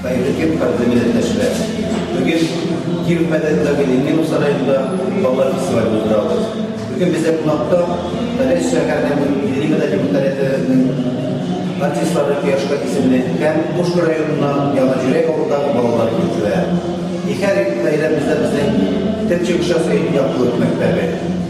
Хәерле кадерле милләттәшләр! Бүген Киров мәдәниятендәге Ленин сараенда балалар фестивале уздырабыз. Бүген бездә кунакта Мәдәни шәһәрнең милли мәдәни мөнтәләтенең артистлары Кояшка исемле һәм Пушкин районыннан Яңа Җөрәк авылындагы балалар җырчылары. Ике гаиләбездә безнең төп чыгышчысы Яктылык мәктәбе.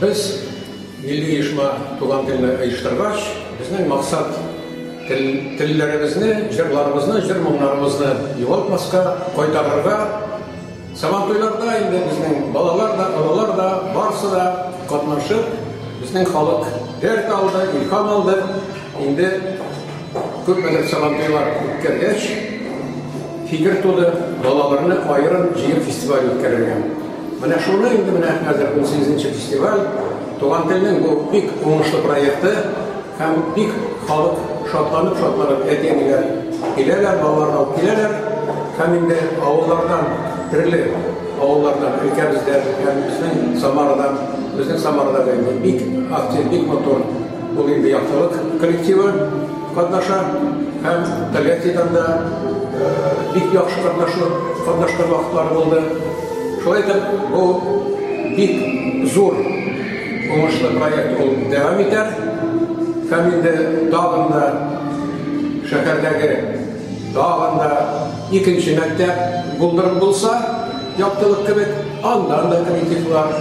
Без милли оешма туган телне оештыргач, безнең максат тел, телләребезне, җырларыбызны, җыр моңнарыбызны югалтмаска, кайтарырга. Сабантуйларда инде безнең балалар да, олылар да, барсы да катнашып, безнең халык дәрт алды, илһам алды. Инде күпмедер сабантуйлар үткәргәч, фикер туды, балаларны аерым җыеп фестиваль үткәрергә. Менә шуны инде менә хәзер 18 нче фестиваль Туган телнең бу бик уңышлы проекты һәм бик халык шатланып-шатланып әти-әниләр киләләр, балалар алып киләләр һәм инде авыллардан төрле авыллардан өлкәбездә һәм безнең Самарадан, безнең Самарада бик актив, бик матур бу инде яктылык коллективы. Катнаша һәм Тольяттидан да бик яхшы катнашу, катнашкан вакытлары булды. Шулай итеп, бу бик зур уңышлы проект ул дәвам итә. Һәм инде тагын да шәһәрдәге тагын да икенче мәктәп булдырып булса, яктылык кебек, андан да коллективлар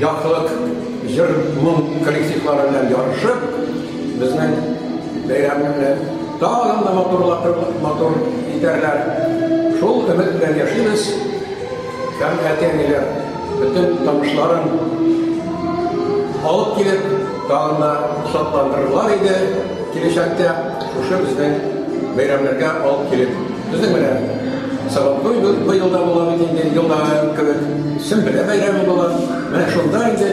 Яктылык җыр-моң коллективлары белән ярышып, безнең бәйрәмне тагын да матурлатып, матур итәрләр. Шул өмет белән яшибез. Һәм әти-әниләр бөтен танышларын алып килеп, тагын да шатландырырлар иде киләчәктә. Шушы безнең бәйрәмнәргә алып килеп, безнең менә Сабантуй быел да була бит инде, елда кебек. Сөмбелә бәйрәме була. Менә шунда инде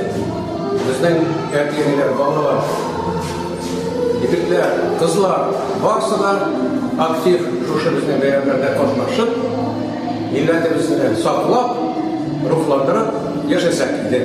безнең әти-әниләр, балалар, егетләр, кызлар барысы да актив шушы безнең бәйрәмнәрдә катнашып, милләтебезне саклап, рухландырып яшәсәк иде.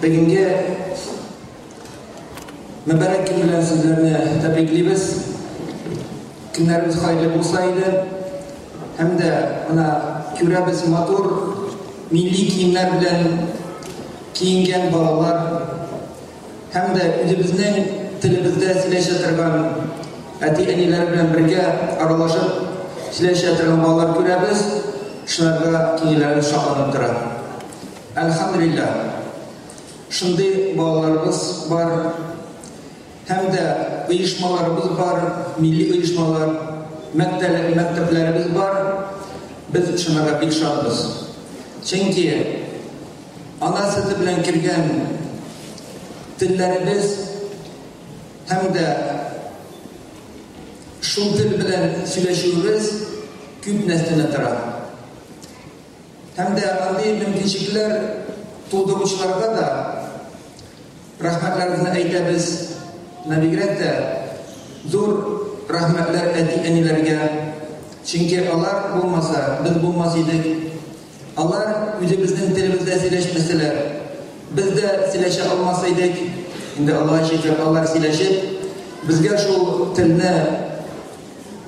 Бүгенге мөбарәк көн белән сезләрне тәбриклибез. Көннәребез хәерле булса иде. Һәм дә мына күрәбез матур милли киемнәр белән киенгән балалар һәм дә үзебезнең телебездә сөйләшә торган әти-әниләр белән бергә аралашып сөйләшә торган балалар күрәбез. Шуларга киңеләре шатланып тора. Әлхәмдүлилләһ, шундый балаларыбыз бар һәм дә оешмаларыбыз бар, милли оешмалар, мәктәпләребез бар. Без шунларга бик шатбыз. Чөнки ана сөте белән килгән телләребез һәм дә шул тел белән сөйләшүебез күп нәрсәне тора. Һәм дә андый мөмкинчекләр тудыручыларга да рәхмәтләребезне әйтәбез. Менә бигрәк тә зур рәхмәтләр әти-әниләргә. Чөнки алар булмаса, без булмас идек. Алар үзебезнең телебездә сөйләшмәсәләр, без дә сөйләшә алмас идек. Инде Аллаһ шөкер, алар сөйләшеп, безгә шул телне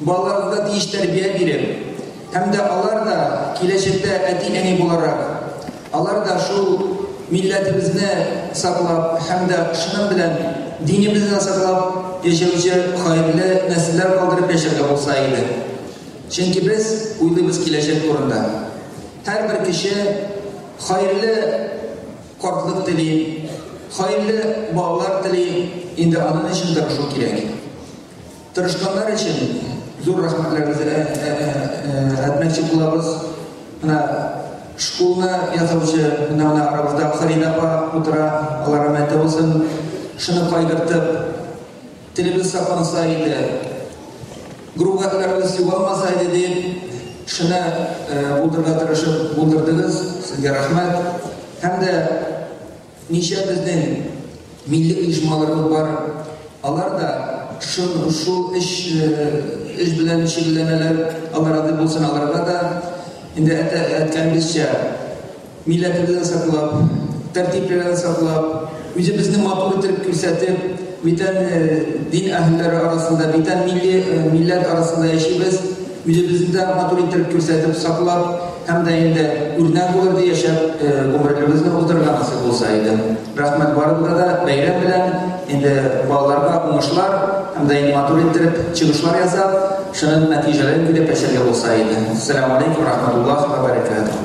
Балаларыбызга тиеш тәрбия биреп, һәм дә алар да киләчәктә әти-әни буларак, алар да шул милләтебезне саклап һәм дә шуның белән динебезне саклап яшәүче хәерле нәселләр калдырып яшәргә булса иде. Чөнки без уйлыйбыз киләчәк турында. Һәрбер кеше хәерле картлык тели, хәерле балалар тели, инде аның өчен тырышу кирәк. Тырышканнар өчен зур рәхмәтләребезне э, э, э, әйтмәкче булабыз. Менә школны ясаучы менә менә арабызда Фарида апа утыра, алар рәхмәтле булсын. Шуны кайгыртып, телебез сакланса иде, гругатларыбыз югалмаса иде дип, шуны булдырырга тырышып булдырдыгыз. Сезгә рәхмәт. Һәм дә Ничә безнең милли оешмаларыбыз бар, алар да шул эш белән шөгыльләнәләр, Алла разый булсын аларга да. Инде әйткәнебезчә, милләтебезне саклап, тәртипләрен саклап, үзебезне матур итеп күрсәтеп, бүтән дин әһелләре арасында, бүтән милләт арасында яшибез. Үзебезне дә матур иттереп күрсәтеп, саклап һәм дә инде үрнәк булыр ди яшәп гомерлебезне уздырырга насыйп булса иде. Рәхмәт барыбызга да, бәйрәм белән, инде балаларга уңышлар һәм дә инде матур иттереп чыгышлар ясап, шуның нәтиҗәләрен көтеп яшәргә булса иде. Сәлам алейкум рахмәтуллаһ вә бәрәкәтүһ.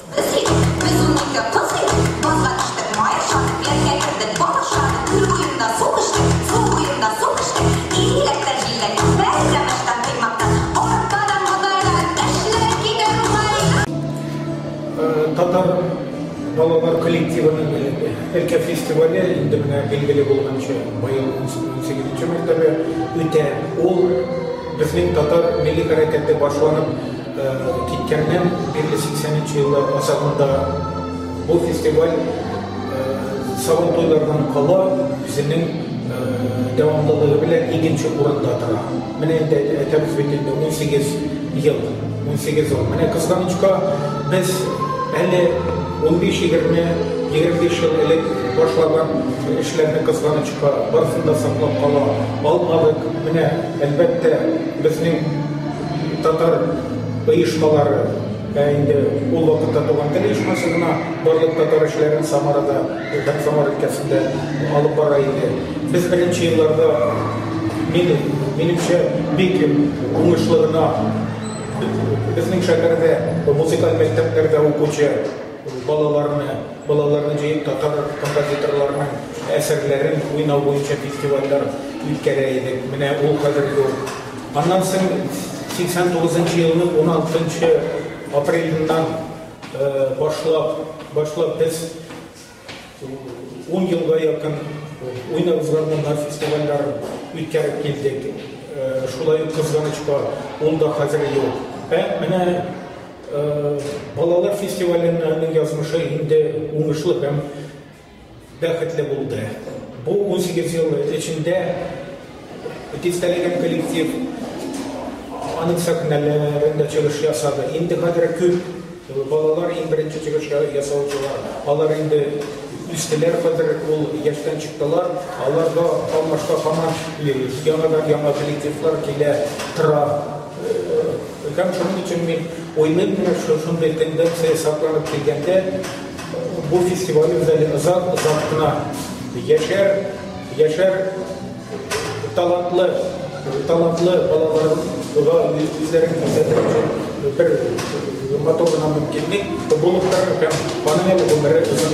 Әлкә фестивале инде менә билгеле булганча быел 18-нче мәртәбә үтә. Ул безнең татар милли хәрәкәте башланып Киткәннән бирле 83 еллар азагында бу фестиваль Сабан туйлардан кала үзенең дәвамлылыгы белән икенче урында тора. Менә инде әйтәбез бит инде 18 ел, 18 ел. Менә кызганычка, без әле 15-20, 25 ел элек башлаган эшләрне кызганычка барысын да саклап кала алмадык. Менә, әлбәттә, безнең Татар оешмалары, ә инде ул вакытта Туган тел оешмасы гына барлык татар эшләрен Самарада, һәм Самар өлкәсендә алып бара иде. Без беренче елларда, мин, минемчә, бик уңышлы гына безнең шәһәрдә музыкаль мәктәпләрдә укучы балаларны, балаларны җыеп татар композиторларының әсәрләрен уйнау буенча фестивальләр үткәрә идек. Менә ул хәзер юк. Аннан соң 89 нчы елның 16 апрелендән башлап, башлап без 10 елга якын уйнап узган фестивальләр үткәреп килдек. Шулай ук кызганычка, ул да хәзер юк. Ә менә балалар фестивалендә язмышы инде уңышлы һәм Бәхетле булды. Бу унсигез ел эчендә дистәләгән коллектив аның сәхнәләрендә чыгыш ясады. Инде хәзер күп балалар иң беренче чыгыш ясаучылар. Алар инде үстеләр, хәзер ул яшьтән чыктылар. Аларга алмашка һаман яңадан-яңа коллективлар килә тора. Һәм шуның өчен мин уйлыйм, менә шушындый тенденция сакланып килгәндә, Бу фестиваль үзәге озак озак кына яшәр, яшәр талантлы, талантлы балаларга үзләрен күрсәтергә бер матур гына мөмкинлек булып тора һәм аның әле гомере озын.